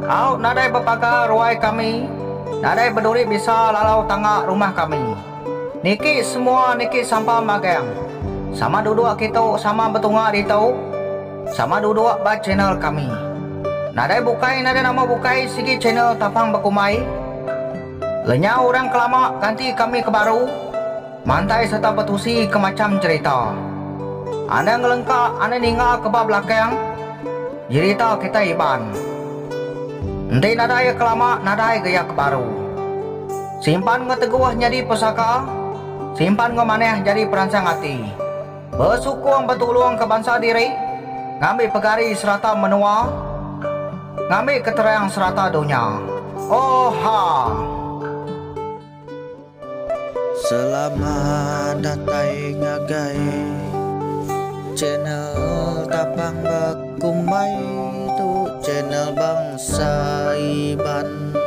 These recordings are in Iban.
Au nadai bepaga ruai kami, nadai beduri bisa lalau tangga rumah kami. Niki semua niki sampam magang. Sama duduk kitu sama betunga ditu. Sama duduk ba channel kami. Nadai bukai nadai nama bukai sigi channel tapang bekumbai. Lenyau orang ke lama ganti kami ke baru. Mantai serta betusi ke macham cherita. Anda ngelengka anda ninga ke ba belakang jerita kitai Iban. Enti nadai iya ke lama nadai ga iya ke baru. Simpan enggau teguh nyadi pesaka, simpan enggau manah nyadi peransang ati. Besukung betulung ke bansa diri, ngambi pegari serata menua, ngambi keterang serata dunya. Oha! Selamat datai ngagai channel tapang bek. Kumbai tu channel Bangsa Iban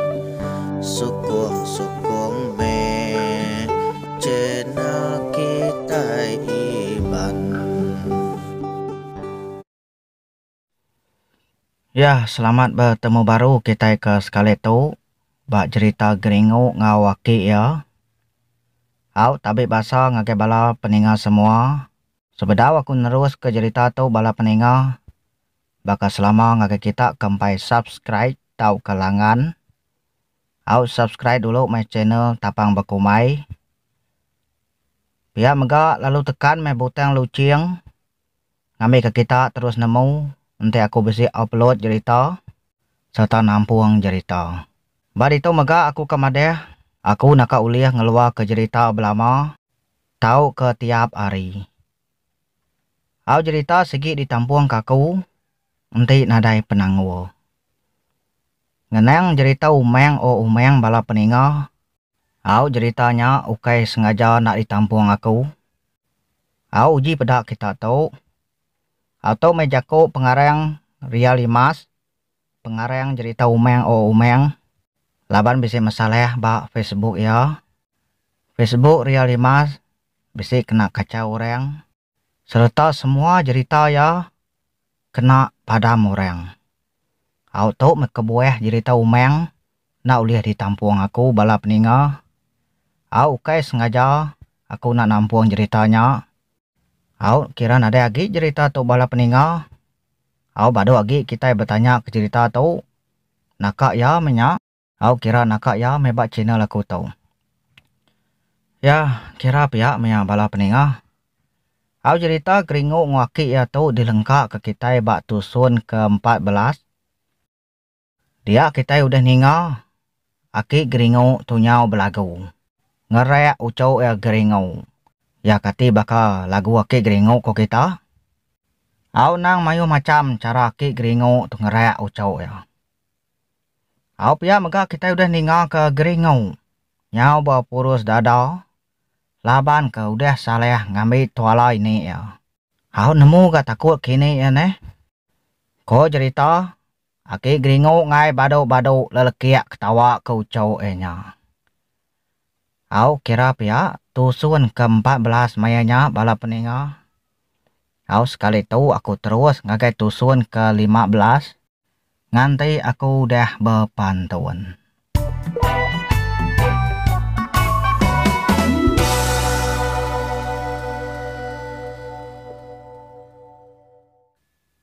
Sukung sukung meh channel kitai Iban. Ya, selamat betemu baru kitai ke sekali tu ba jerita Geringu enggau aki iya. Au, tabi basa ngagai bala peninga semua. Sebedau aku neruska jerita tu bala peninga baka selama ngagai kita ke empai subscribe tauka langan au subscribe dulu meh channel tapang bekumai pia mega lalu tekan meh butang luching ngambika kita terus nemu enti aku bisi upload jerita serta nampung jerita ba ditu mega aku ka madah aku naka ulih ngeluarka jerita belama. Tauka tiap hari. Au jerita sigi ditampungka aku enti nadai penanggul. Ngenang jerita Umang O Umang bala peninga, au jerita nya ukai sengaja enda ditampung aku. Au uji peda kita tu. Au tu meh jaku pengarang Ria Limas Pengarang jerita Umang O Umang laban bisi masalah ba Facebook iya. Facebook Ria Lima bisi kena kachau orang sereta semua jerita iya kena padam orang. Au tu meh kebuah jerita Umang enda ulih ditampung aku bala peninga. Au ukai sengaja aku enda nampung jerita nya. Au kira nadai agi jerita tu bala peninga Au badu agi kitai betanya ke cerita tu. Naka ya meh nya. Au kira naka ya meh ba channel aku tu. Ya kira pia meh ya bala peninga. Au jerita keringu enggau aki ya tu dilengka ke kitai ba tusun ke empat belas. Dia kitai udah ninga aki Geringu tu nyau belagu. Ngerak uchu iya Geringu. Iya kati baka lagu aki Geringu ko kita? Au nang mayuh macham chara aki Geringu tu ngerak uchu iya. Au pia mega kitai udah ninga ke Geringu nyau bepurus dada laban ke udah salah ngambi tuala ini iya. Au nemu ga takut kini iya neh. Ko jerita Aki Geringu ngai badu-badu lelekik ketawa ke uchu iya nya. Au kira pia, tusun ke empat belas maya nya bala peninga. Au sekali tu aku terus ngagai tusun ke lima belas nganti aku udah bepantun.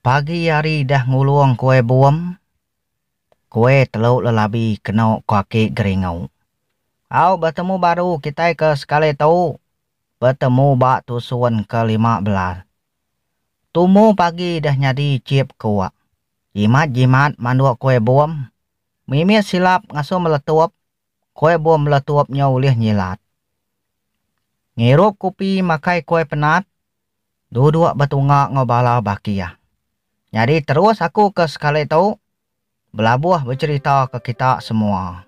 Pagi ari dah ngulung kuai buem, kuai telu lelabi keno ko aki Geringu. Au betemu baru kitai ke sekali tu, betemu ba tusun ke lima belas. Tumu pagi dah nyadi chip kuk. Jimat-jimat manduk kuai buem. Mimit silap ngasu meletup, kuai buem meletup nyo ulih nyilat. Ngirup kupi makai kuai penat. Duduk betunga enggau bala baki iya. Nyadi terus aku ke sekali tu belabuh becherita ke kita semua.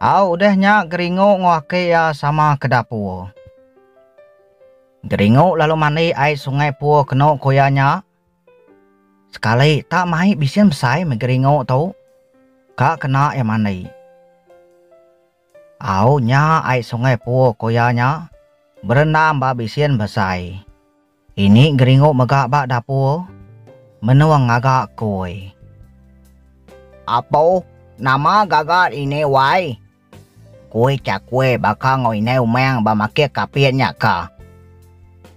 Au udah nya Geringu enggau aki iya sama ke dapur. Geringu lalu mandi ai sungai pur kenu ku iya nya. Sekali tak mai bisen besai meh Geringu tu ka kena iya mandi. Au nya ai sungai puo ko iya nya berendam ba bisin besai. Ini geringu mega ba dapur menung ngaga koi. Apo nama gaga ini wai. Koi cakue baka ngau inai umang ba makir kapit nya ka.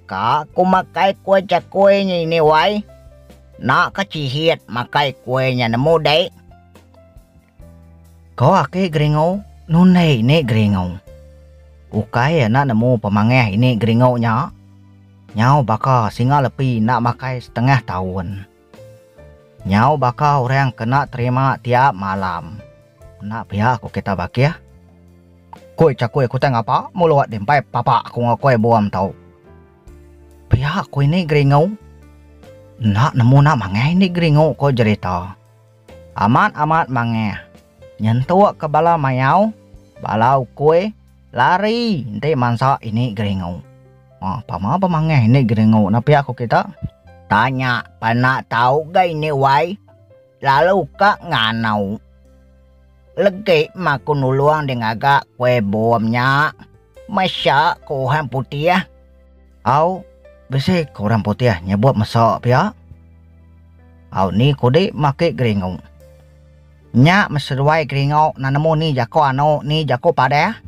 Ka ku makai koi cakue nya ini wai. Nak ka cihit makai koi nya nemu dei. Ko aki Geringu, Nundi ini Geringu. Ukai enda nemu pemangih ini Geringu nya. Nyau baka singa lepi enda makai setengah taun. Nyau baka orang ke enda terima tiap malam. Enda pia ku kita bakih. Kui Cakui kutai ngapa mulut di empai papa aku enggau Kui Bum tu. Pia ku ini Geringu. Enda nemu nak mangih ini Geringu ko jerita. Amat-amat mangah. Nyentuk ke bala mayau, bala ukui, lari enti mansa ini geringu. Mah pama ba mangah ini geringu na pia ku kita? Tanya pena tau ga ini wai, lalu ka nganau. Legi ma ku nulung di ngaga kue bom nya. Mesya ku Uhang Putih. Au, bisi ke orang putih nyebut mesa pia. Au ni kudi makit geringu. Nya meseduai geringu na nemu ni jako anu ni jako padah.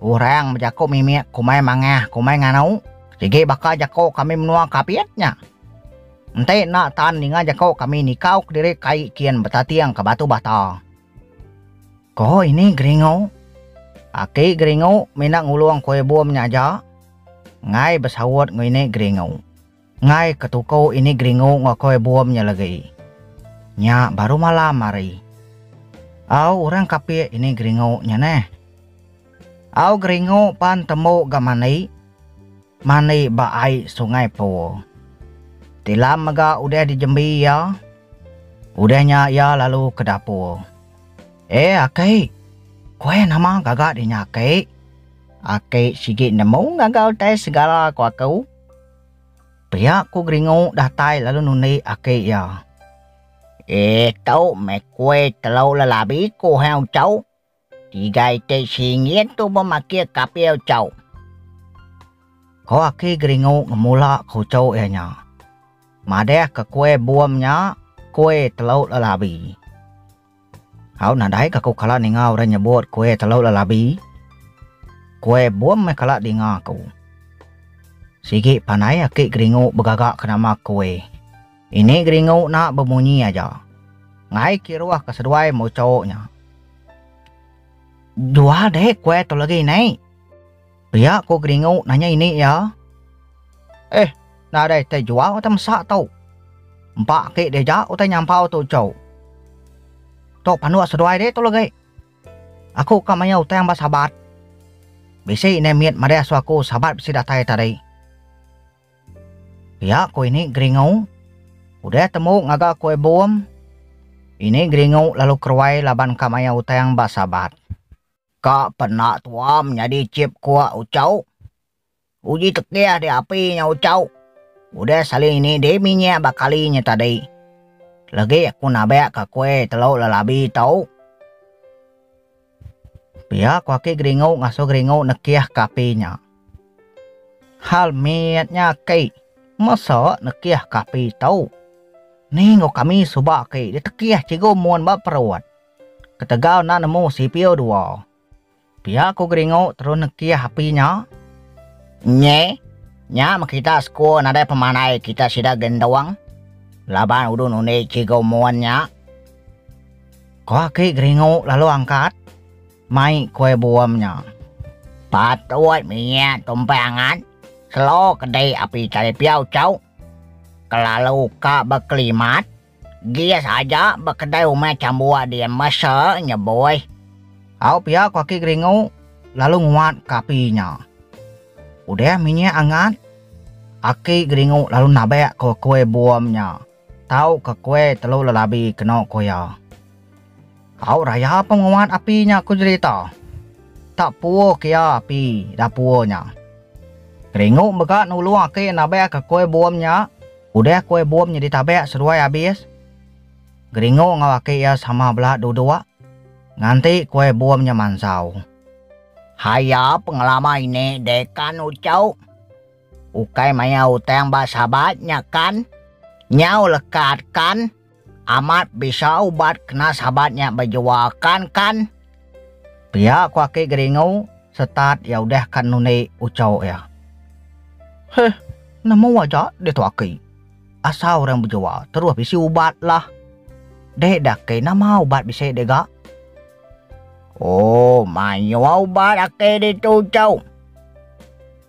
Orang bejako mimit kumai mangah kumai nganu sigi baka jako kami menua kapit nya. Enti enda tan ninga jako kami nikau kediri kai kin betating ke batu bata. Ko ini Geringu. Aki Geringu mina ngulung Kuai Bum nya aja. Ngai besaut enggau ini Geringu. Ngai ketuku ini Geringu enggau Kuai Bum nya legi. Nya baru malam hari. Au orang kapik ini Geringu nya neh. Au Geringu pan tembu ga mandi. Mandi ba ai Sungai Pur. Tilam mega udah dijembi iya. Udah nya iya lalu ke dapur. E aki, ku ai nama gaga di nya aki? Aki sigi nemu ngaga utai segala ku aku. Pia ku Geringu datai lalu nundi aki iya. E tu meh kue telu lelabi ku Hang Ucau. Tiga iti singgit tu bemakir kapi Ucau. Ku aki Geringu ngemula ke uchu iya nya. Madah ke kue bum nya kue telu lelabi. Au nadai ke aku kala ninga orang nyebut kue telu lelabi. Kue bum meh kala dinga aku. Sigi panai aki Geringu begaga ke nama kue. Ini Geringu na bemunyi aja. Ngai kiruh ke seduai mucho nya. Jual deh kue tu legi nai. Pia ko Geringu nanya ini iya. Eh nadai tai jual utai mesa tu. Empa agi dieja utai nyampau tu chou. Tu panduk seduai deh tu legi. Aku ka maia utang ba Sabat. Bisi indai mit madai asu aku Sabat bisi datai tadi. Pia ko ini Geringu. Udah temu ngaga Kue Bum, ini Geringu lalu keruai laban ka maia utang ba Sabat. Ka pena tuam nyadi chip kua uchau. Uji tekih di api nya uchau. Udah sali ini di minyak ba kali nya tadi. Legi aku nabak ka kue telu lelabi tau. Pia ku aki geringu ngasu geringu nekih ka api nya. Hal mit nya aki mesa nekih ka api tau. Ni enggau kami suba aki ditekih cikgu mun ba perut. Ketegal enda nemu cpo dua. Pia ku Geringu terus nekih api nya. Nyi, nya meh kita sku nadai pemandai kita sida gentung laban udun undi Cigu Mun nya. Ko aki Geringu lalu angkat mai kue buum nya. Patut minyak tumpang angat selo kedi api talipiau cau kelalu ka bekelimat. Gas aja ba kedai umai chambuak di Masa nya boy. Au pia ku aki geringu lalu nguat ka api nya. Udah minyak angat, aki geringu lalu nabak ko kue bom nya tau ka kue telu lelabi keno ko iya. Au raya penguat api nya ku jerita. Tak puuh kia api dapur nya. Keringu mega nulung aki nabekka kue bom nya udah kue bom nya ditabek seduai abis. Geringu enggau aki iya sama bela duduk nganti kue bom nya mansau. Hai iya pengelama ini deh kan ucau. Ukai maya utang ba sabat nya kan. Nyau lekat kan. Amat bisa ubat kena Sabat nya bejua kan kan? pia ku aki Geringu setat iya udah ka nundi uco iya. Heh nemu aja ditu aki, asal orang bejua terus bisi ubat lah. Deh dah aki nama ubat bisi deh ga? Ooh mayuh ubat aki ditu uco.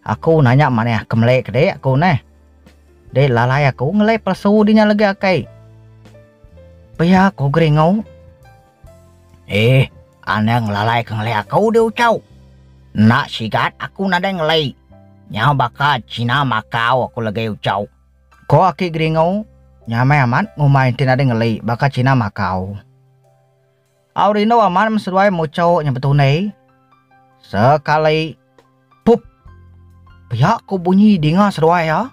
Aku nanya manah kemeli ke dik aku neh. Dik lalai aku ngelai pelesu dinya legi akai. Pia aku geringu. Ih, anang lalai ke ngelai aku di ucau. Enda sigat aku nadai ngelai. Nyau baka cina makau aku legi ucau. Ko aki geringu, nyamai amat ngumbai enti nadai ngelai baka cina makau. Au rindu amat meseduai mucho nya betunie. Sekali pup. Pia ko bunyi dinga seduai iya.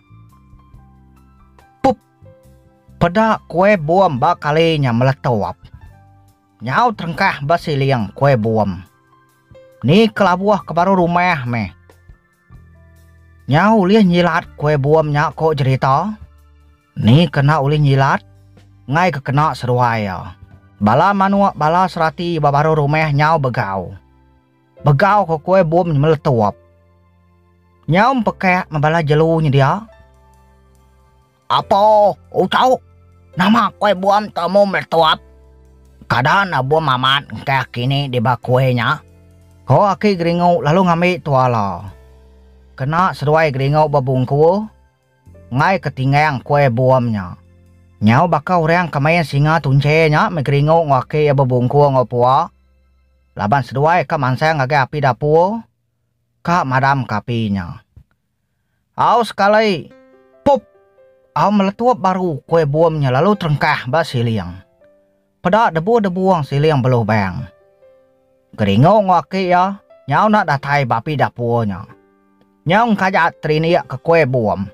Pup. Peda kue bom ba kali nya meletup. Nyau terengkah ba siling kue bom. Ni kelabuh ke baru rumah meh. Nyau ulih nyilat kue bom nya ko jerita. Ni kena ulih nyilat enggai ke kena seduai iya. Bala manuk bala serati ba baruh rumah nyau begau. Begau ke kuai bum nyemeletup. Nyau empekak me bala jelu nyedia. Apo uchu, nama kuai bum tu amu meletup? Kada enda bum amat engkah aki ni di ba kuai nya. Ko aki Geringu lalu ngambi tuala. Kena seduai Geringu bebungku. Enggai ke tinggang kuai bom nya. Nyau baka orang ke main singa tunche nya meh geringu enggau aki iya bebungkur enggau pua. Laban seduai ka mansang ngagai api dapur, ka madamka api nya. Au sekali, pup! Au meletup baru kuai bom nya lalu terengkah ba siling. Peda debu debung siling belubang. Geringu enggau aki iya nyau enda datai ba api dapur nya. Nyau engkajat terindik ke kuih bum.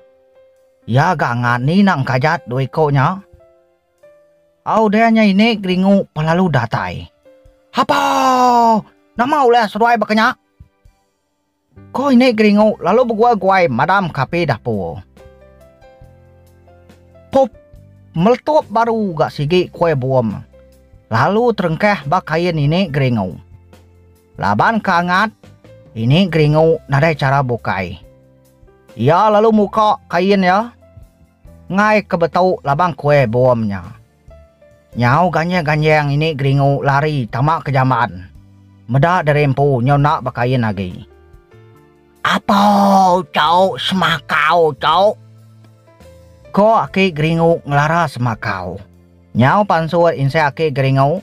Iya ga ngan ni nak engkajat dua iku nya. Au udah nya ini geringu pa lalu datai. Hapoo! Nama ulih seduai baka nya? Ko inik geringu lalu beguai-guai madam ka api dapur. Pup meletup baru ga sigi kuai bum lalu terengkah ba kain inik geringu. Laban ka angat, inik geringu nadai chara bukai. Iya lalu muka kain iya ngai ke betu labang kuai bum nya. Nyau ganjing-ganjing ini geringu lari tama ke jamban. Meda diri empu nyau enda bekain agi. Apo chau semakau chau? Ko aki geringu ngelara semakau. Nyau pansut insai aki geringu.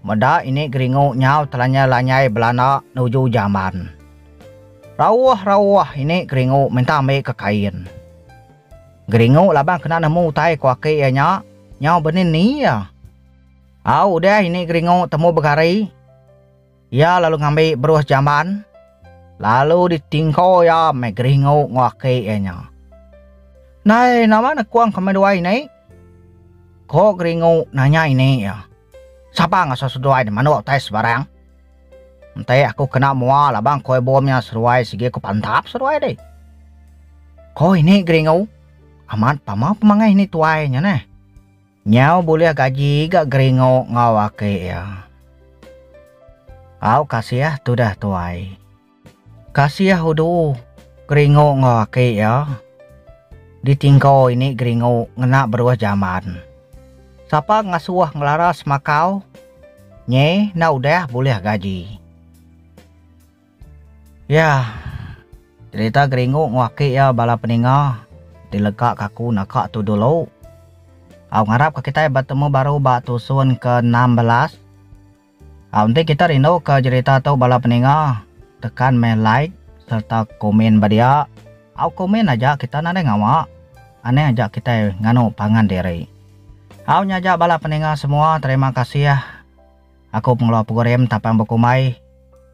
Meda ini geringu nyau telanya lanyai belana nuju jamban. Rauh-rauh ini geringu minta ambika kain. Geringu laban kena nemu utai ku aki iya nya, nyau benini iya. Au udah ini geringu temu begari, iya lalu ngambi beruh jamban lalu ditingko iya meh geringu enggau aki iya nya. Nai nama nekung kami dua ini? Ko geringu nanya ini iya. Sapa ngasuh seduai nya manuk utai sebarang. Enti aku kena mua labang koi bom nya seruai sigi aku pantap seduai deh. Ko ini Geringu, amat pama pemangai ini tuai nya neh. Nyau bulih gaji ga Geringu enggau aki iya. Au kasih tudah tuai. Kasih udu Geringu enggau aki iya ditingko ini Geringu ngena beruh jaman. Sapa ngasuh ngelara semakau nyi enda udah bulih gaji. Yah cerita Geringu enggau aki iya bala peninga dilegaka aku naka tu dulu. Au ngarapka kitai betemu baru ba tusun ke enam belas. Au enti kita rinduka jerita tu bala peninga tekan meh like serta komen ba dia. Au komen aja kita nadai ngawa. Aneh aja kitai nganu pangan diri. Au nya aja bala peninga semua terima kasih aku pengeluar program tapang bekumbai.